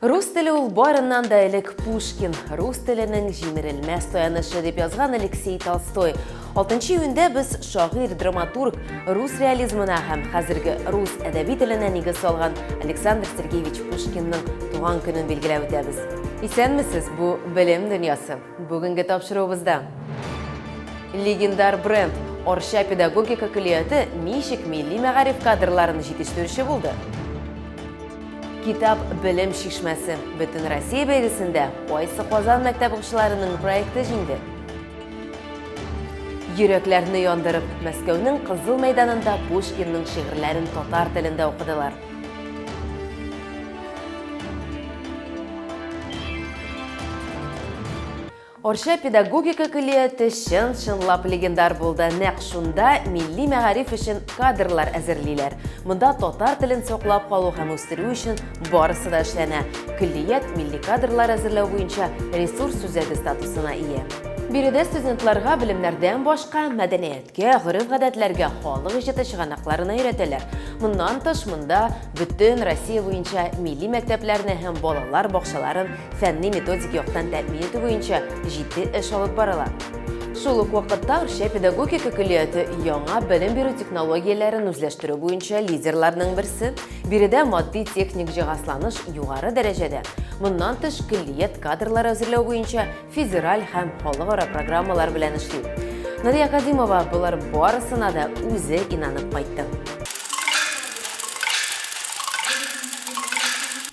Рус теле ул барыннан да элек Пушкин, рус теленең җимерелмәс таянышы дип язган Алексей Толстой. Алтынчы июньдә без шагыйрь, драматург, рус реализмына һәм хәзерге рус әдәби теленә нигез салган Александр Сергеевич Пушкинның туган көнен билгеләп үтәбез. Исәнмесез, бу белем дөньясы. Бүгенге тапшыруыбызда легендар бренд Арча педагогика көллияте ничек милли мәгариф кадрларын җитештерүче булды? Китап белем шишмәсе бөтен Россия бәйгесендә кайсы Казан мәктәп укучыларының проекты җиңде? Йөрәкләрне яндырып, Мәскәүнең Кызыл мәйданында Пушкинның шигырьләрен татар телендә укыдылар. Арча педагогика көллияте чын-чынлап легендар булды. Нәкъ шунда милли мәгариф өчен кадрлар әзерлиләр. Монда татар телен саклап калу һәм үстерү өчен барысы да эшләнә. Көллият милли кадрлар әзерләү буенча ресурс үзәге статусына ия. Биредә студентларга белемнәрдән башка мәдәният, Кә, гореф-гадәтләргә, халык иҗаты чыганакларына өйрәтәләр. Моннан тыш, монда бөтен Россия буенча милли мәктәпләрне һәм балалар бакчаларын фәнни-методик яктан тәэмин итү буенча җитди эш алып барыла. Шул ук вакытта Арча педагогика көллияте яңа белем бирү технологияләрен үзләштерү буенча лидерларның берсе. Биредә матди-техник җиһазланыш югары дәрәҗәдә. Моннан тыш, көллият кадрлар әзерләү буенча федераль һәм халыкара программалар белән эшли. Нурия Кадимова болар барысына да үзе инанып кайтты.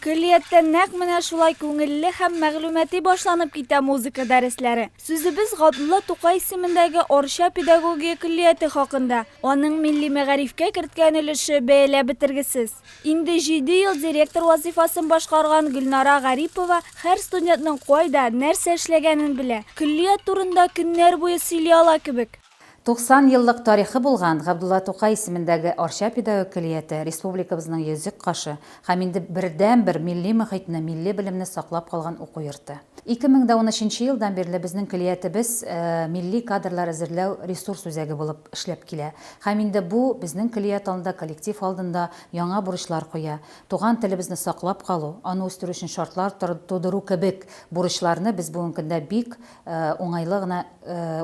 Көллияттә нәкъ менә шулай күңелле һәм мәгълүмати башланып китә музыка дәресләре. Сүзебез Габдулла Тукай исемендәге Орча педагогия көллияте хакында. Аның милли мәгарифкә керткән өлеше бәяләп бетергесез. Инде җиде ел директор вазыйфасын башкарган Гөлнара Гарипова һәр студентның кайда, нәрсә эшләгәнен белә. Көллият турында көннәр буе сөйли ала кебек. 90 еллык тарихы булган Габдулла Тукай исемендәге Арча педагог көллияте республикабызның йөзек кашы һәм инде бердәнбер милли мохитне, милли белемне саклап калган уку йорты. Ике мең дә унөченче елдан бирле безнең көллиятебез милли кадрлар әзерләү ресурс үзәге булып эшләп килә. Һәм инде бу безнең көллият алдында, коллектив алдында яңа бурычлар куя. Туган телебезне саклап калу, аны үстерү өчен шартлар тудыру кебек бурычларны без бүгенге көндә бик уңайлы гына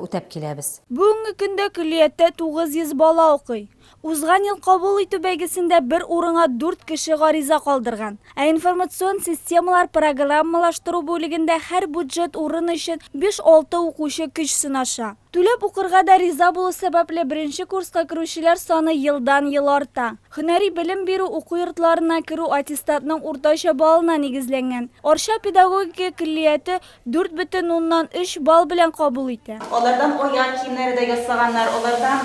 үтәп киләбез. Бүгенге көндә көллияттә 900 бала укый. Узган ел кабул итү бәйгесендә бер урынга дүрт кеше гариза калдырган. Ә информацион системалар программалаштыру бүлегендә һәр бюджет урын өчен биш-алты укучы көч сынаша. Түләп укырга да риза булу сәбәпле, беренче курска керүчеләр саны елдан-ел арта. Һөнәри белем бирү уку йортларына керү аттестатның уртача баллына нигезләнгән. Арча педагогика көллияте Дүрт бөтен уннан өч балл белән кабул итә. Алардан аяк киемнәре дә ясаганнар, алардан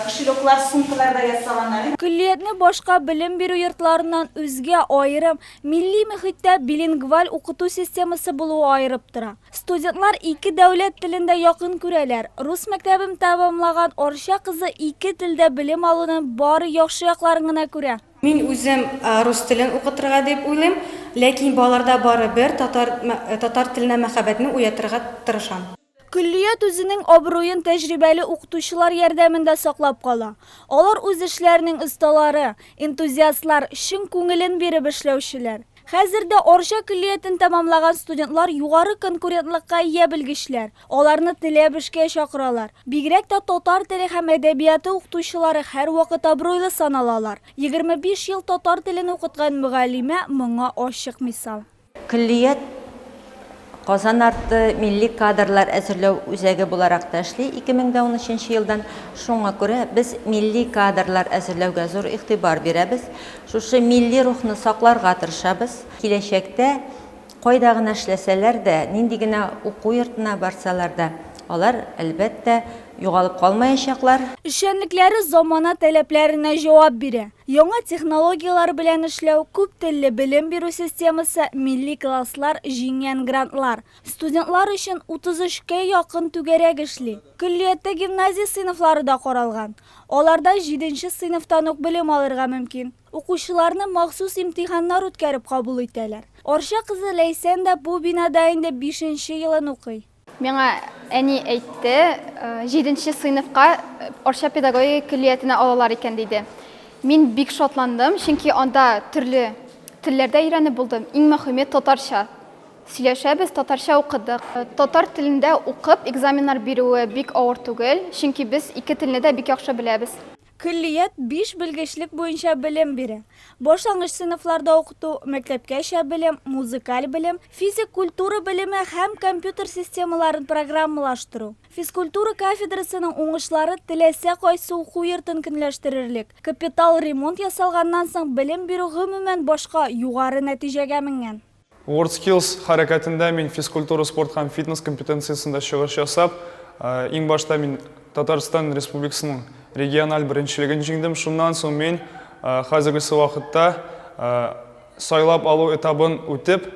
кошелёклар, сумкалар да ясаганнар. Көллиятне башка белем бирү йортларыннан үзгә аерым, милли мөхиттә билингваль укыту системасы булуы аерып тора. Студентлар ике дәүләт телен дә якын күрәләр. Рус мәктәбен тәмамлаган Арча кызы ике телдә белем алуның бары яхшы якларын гына күрә. Мин үзем рус телен укытырга дип уйлыйм, ләкин балаларда барыбер татар татар теленә мәхәббәтне уятырга тырышам. Көллият үзенең абруен тәҗрибәле укытучылар ярдәмендә саклап кала. Алар үз эшләренең осталары, энтузиастлар, чын күңелен биреп эшләүчеләр. Хәзер дә Арча көллиятен тәмамлаган студентлар югары конкурентлыкка ия белгечләр, Аларны теләп эшкә чакыралар. Бигрәк тә татар теле һәм әдәбияты укытучылары һәрвакыт абруйлы саналалар. Егерме биш ел татар телен укыткан мөгаллимә моңа ачык мисал. Көллият Казан арты милли кадрлар әзерләү үзәге буларак та эшли 2013 елдан. Шуңа күрә без милли кадрлар әзерләүгә зур игътибар бирәбез. Шушы милли рухны сакларга тырышабыз. Киләчәктә Кайда гына эшләсәләр дә, нинди генә уку йортына барсалар да, алар, әлбәттә, югалып калмаячаклар. Эшчәнлекләре замана таләпләренә җавап бирә. Яңа технологияләр белән эшләү, күптелле белем бирү системасы, милли класслар, җиңгән грантлар. Студентлар өчен 33 кә якын түгәрәк эшли. Көллияттә гимназия сыйныфлары да каралган. Аларда җиденче сыйныфтан ук белем алырга мөмкин. Укучыларны махсус имтиханнар үткәреп кабул итәләр. Арча кызы Ләйсән дә бу бинада инде бишенче елын укый. Миңа әни әйтте, җиденче сыйныфка Арча педагогика көллиятенә алалар икән, диде. Мин бик шатландым, чөнки анда төрле телләр дә өйрәнеп булды, иң мөхиме, татарча сөйләшәбез, татарча укыдык. Татар телендә укып экзаменнар бирүе бик авыр түгел, чөнки без ике телне дә бик яхшы беләбез. Көллият биш белгечлек буенча белем бирә, башлангыч сыйныфларда укыту, мәктәпкәчә белем, музыкаль белем, физик культура белеме һәм компьютер системаларын программалаштыру. Физкультура кафедрасының уңышлары теләсә кайсы уку йортын көнләштерерлек, капитал ремонт ясалганнан соң белем бирү гомумән башка, югары нәтиҗәгә менгән. WorldSkills хәрәкәтендә мин физкультура, спорт һәм фитнес компетенциясендә чыгыш ясап, иң башта мин Татарстан Республикасының региональ беренчелеген җиңдем. Шуннан соң мин хәзергесе вакытта сайлап алу этабын үтеп,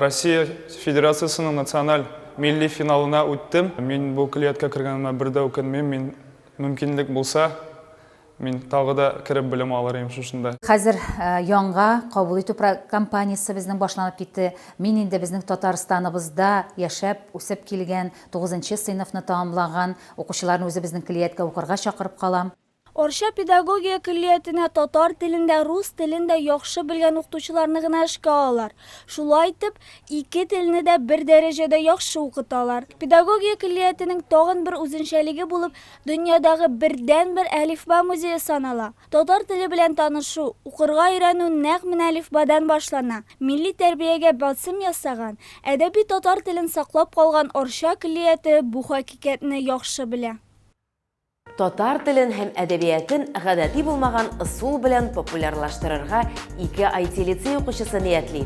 Россия Федерациясенең националь милли финалына үттем. Мин бу көллияткә кергәнемә бер дә үкенмим, мин мөмкинлек булса, Мин тагы да кереп белем алыр идем шушында. Хәзер яңа кабул итү кампаниясе безнең башланып китте. Мин инде безнең Татарстаныбызда яшәп, үсеп килгән, тугызынчы сыйныфны тәмамлаган укучыларны үзебезнең көллияткә укырга чакырып калам. Арча педагогия көллиятенә татар телен дә, рус телен дә яхшы белгән укытучыларны гына эшкә алалар. Шулай итеп, ике телне дә бер дәрәҗәдә яхшы укыталар. Педагогия көллиятенең тагын бер үзенчәлеге булып, Дөньядагы бердәнбер әлифба музее санала. Татар теле белән танышу, укырга өйрәнү нәкъ менә әлифбадан башлана. Милли тәрбиягә басым ясаган, әдәби татар телен саклап калган Арча көллияте бу хакыйкатьне яхшы белә. Татар телен һәм әдәбиятын гадәти булмаган ысул белән популярлаштырырга ике IT-лицей укучысы ниятли.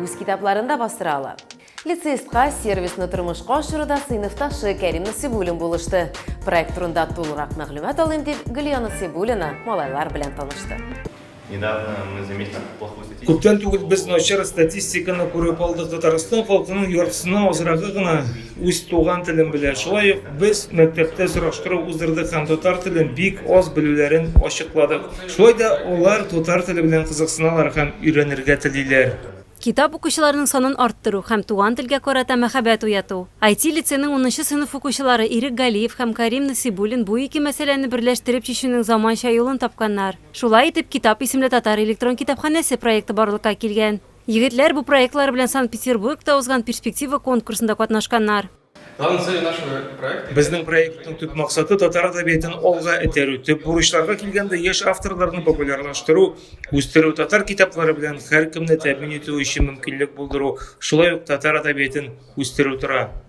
үз китапларын да бастыра ала. Лицеистка сервисны тормышка ашыруда сыйныфташы Кәрим Насибуллин булышты. Проект турында тулырак мәгълүмат алыйм дип, Гөлия Насибуллина малайлар белән танышты. Күптән түгел без начар статистиканы күреп алдык. Татарстан халкының яртысына азрагы гына Үз туган телем белән шулай ук без мәктәптә сораштыру уздырдык һәм татар телен бик аз белүләрен ачыкладык. Шулай да алар татар теле белән кызыксыналар һәм өйрәнергә телиләр. Китап укучыларның санын арттыру һәм туган телгә карата мәхәббәт уяту. IT-лицейның унынчы сыйныф укучылары Ирек Галиев һәм Карим Насыйбуллин бу ике мәсьәләне берләштереп чишүнең заманча юлын тапканнар. Шулай итеп, Китап исемле татар электрон китапханәсе проекты барлыкка килгән. Егетләр бу проектлар белән Санкт-Петербургта узган Перспектива конкурсында катнашканнар. Безнең проектның төп максаты, татар әдәбиятын алга этәрү, төп бурычларга килгәндә, яшь авторларны популярлаштыру, үстерү, татар китаплары белән һәркемне тәэмин итү өчен мөмкинлек булдыру, шулай ук татар әдәбиятын үстерү тора.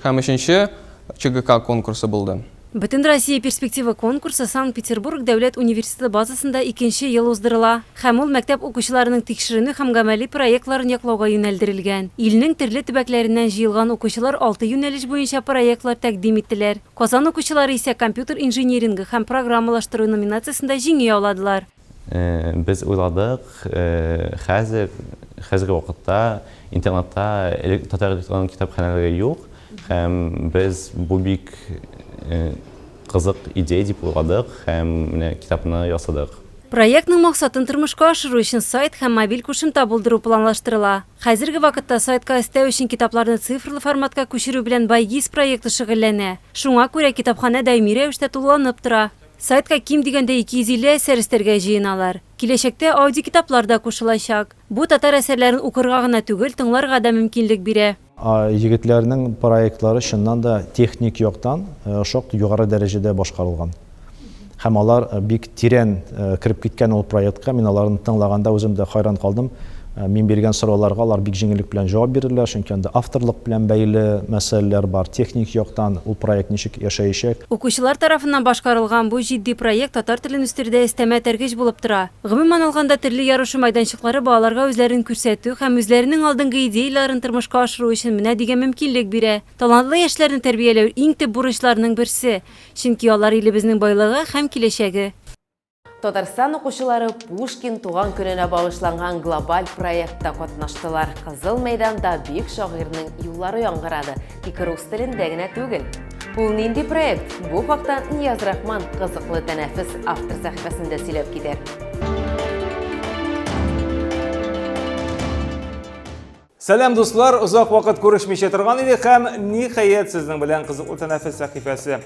Һәм өченче ЧГК конкурсы булды. Бөтенроссия перспектива конкурсы Санкт-Петербург дәүләт университеты базасында икенче ел уздырыла һәм ул мәктәп укучыларының тикшеренү һәм гамәли проектларын яклауга юнәлдерелгән. Илнең төрле төбәкләреннән җыелган укучылар алты юнәлеш буенча проектлар тәкъдим иттеләр. Казан укучылары исә компьютер инжинирингы һәм программалаштыру номинациясендә җиңү яуладылар. Без уйладык, хәзер, хәзерге вакытта интернатта элек татар электрон китапханәләре юк, һәм без бу бик кызык идея дип уйладык һәм менә китапны ясадык. Проектның максатын тормышка ашыру өчен сайт һәм мобиль кушымта булдыру планлаштырыла. Хәзерге вакытта сайтка өстәү өчен китапларны цифрлы форматка күчерү белән Байгиз проекты шөгыльләнә. Шуңа күрә китапханә даими рәвештә тулыланып тора. Сайтка ким дигәндә 250 әсәр өстәргә җыеналар. Киләчәктә аудиокитаплар да кушылачак. Бу татар әсәрләрен укырга гына түгел, тыңларга да мөмкинлек бирә. Егетләрнең проектлары чыннан да техник яктан шактый югары дәрәҗәдә башкарылган. Һәм алар бик тирән кереп киткән ул проектка. Мин аларны тыңлаганда үзем дә хайран калдым. Мин биргән сорауларга алар бик җиңеллек белән җавап бирделәр, чөнки анда авторлык белән бәйле мәсьәләләр бар, техник яктан ул проект ничек яшәячәк. Укучылар тарафыннан башкарылган бу җитди проект татар телен үстерүдә өстәмә этәргеч булып тора. Гомумән алганда, телне ярышу мәйданчыклары балаларга үзләрен күрсәтү һәм үзләренең алдынгы идеяләрен тормышка ашыру өчен менә дигән мөмкинлек бирә. Талантлы яшьләрне тәрбияләү, иң төп бурычларның берсе, чөнки алар илебезнең байлыгы һәм киләчәге. Татарстан укучылары Пушкин туган көненә багышланган глобаль проектта катнаштылар. Кызыл мәйданда бик шагыйрьнең юллары яңгырады, тик рус телендә генә түгел. Ул нинди проект? Бу хакта Нияз Рахман кызыклы тәнәфес автор сәхифәсендә сөйләп китәр. Сәлам дуслар, озак вакыт күрешмичә торган идек һәм ниһаять сезнең белән кызыклы тәнәфес сәхифәсе.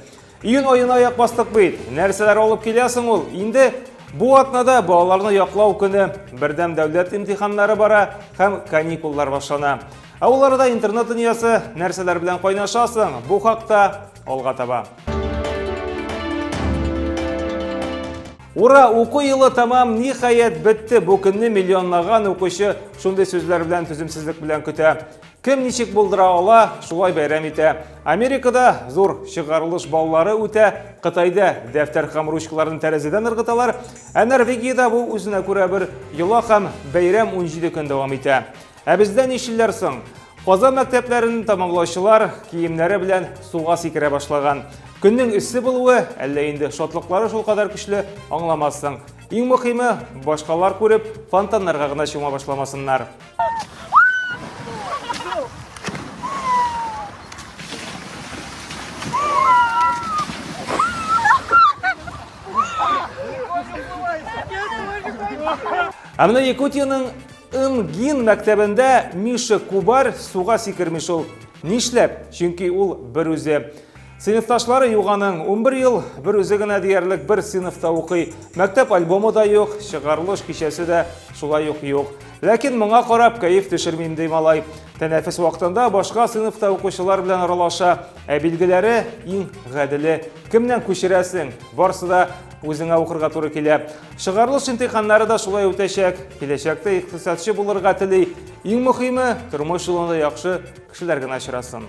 Июнь аена аяк бастык бит. Нәрсәләр алып килә соң ул? Инде бу атнада балаларны яклау көне, бердәм дәүләт имтиханнары бара һәм каникуллар башлана. Ә ул арада интернет дөньясы нәрсәләр белән кайнашасың? Бу хакта алга таба. Ура, уку елы тамам, ниһаять бетте. Бу көнне миллионлаган укучы шундый сүзләр белән түземсезлек белән көтә. Кем ничек булдыра ала, шулай бәйрәм итә. Америкада зур чыгарылыш баллары үтә, Кытайда дәфтәр һәм ручкаларын тәрәзәдән ыргыталар, ә Норвегиядә бу үзенә күрә бер йола һәм бәйрәм 17 көн дәвам итә. Ә бездә нишилләр соң? Казан мәктәпләрен тамамлаучылар киемнәре белән суга сикерә башлаган. Көннең эссе булуы, әллә инде шатлыклары шул кадәр көчле, аңламассың. Иң мөхиме, башкалар күреп, фонтаннарга гына чума башламасыннар. Ә менә Якутиянең Ымгин мәктәбендә Миша Кубар суга сикерми шул. Нишләп? Чөнки ул бер үзе. Сыйныфташлары юганың 11 ел, бер үзе генә диярлек бер сыйныфта укый. Мәктәп альбомы да юк, чыгарылыш кичәсе дә шулай ук юк. Ләкин моңа карап кәеф төшермим ди малай. Тәнәфес вакытында башка сыйныфта укучылар белән аралаша, ә билгеләре иң гаделе. Кемнән күчерәсең? Барсы да үзеңә укырга туры килә. Чыгарылыш имтиханнары да шулай үтәчәк. Киләчәктә икътисадчы булырга тели. Иң мөхиме, тормыш юлында яхшы кешеләр генә очрасын.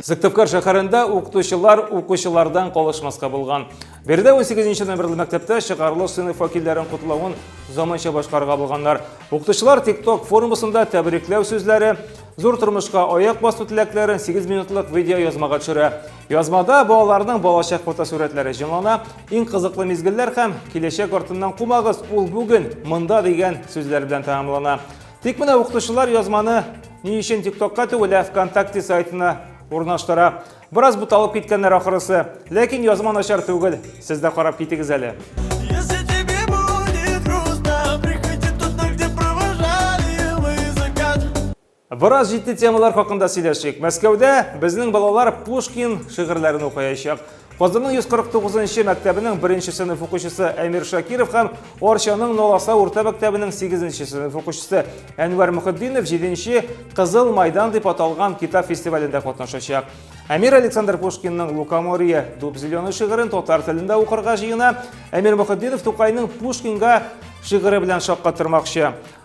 Сыктывкар шәһәрендә укытучылар укучылардан калышмаска булган. Биредә 18 номерлы мәктәптә чыгарылыш сыйныф вәкилләрен котлавын заманча башкарга булганнар. Укытучылар TikTok форумысында тәбрикләү сүзләре, Зур тормышка аяк басу теләкләрен 8 минутлык видео язмага төшерә. Язмада балаларның балачак фотосурәтләре җанлана, иң кызыклы мизгелләр һәм киләчәк артыннан кумагыз, ул бүген монда дигән сүзләр белән тәмамлана. Тик менә укытучылар язманы ни өчен ТикТокка түгел, ә ВКонтакте сайтына урнаштыра. Бераз буталып киткәннәр ахырысы, ләкин язма начар түгел. Сез дә карап китегез әле. Бераз җитди темалар хакында сөйләшик. Мәскәүдә безнең балалар Пушкин шигырьләрен укыячак. Казанның 149 нчы мәктәбенең беренче сыйныф укучысы Әмир Шакиров һәм Орчаның Ноласа урта мәктәбенең 8 сыйныф укучысы Әнвәр Мөхетдинов 7 Кызыл майдан дип аталган китап фестивалендә катнашачак. Әмир Александр Пушкинның Лукоморье дуб зеленый шигырен татар телендә укырга җыена. Әмир Мөхетдинов Тукайның Пушкинга шигыре белән шаккатырмакчы.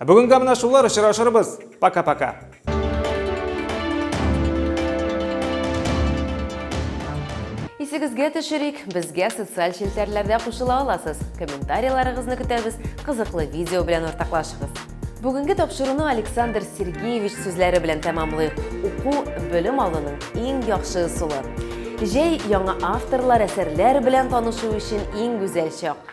Ә бүгенгә менә шулар, очрашырбыз. Пока-пока. Исегезгә төшерик, безгә социаль челтәрләрдә кушыла аласыз. Комментарийларыгызны көтәбез, кызыклы видео белән уртаклашыгыз. Бүгенге тапшыруны Александр Сергеевич сүзләре белән тәмамлыйк. Уку, белем алуның иң яхшы ысулы. Җәй яңа авторлар, әсәрләр белән танышу өчен иң гүзәл чак.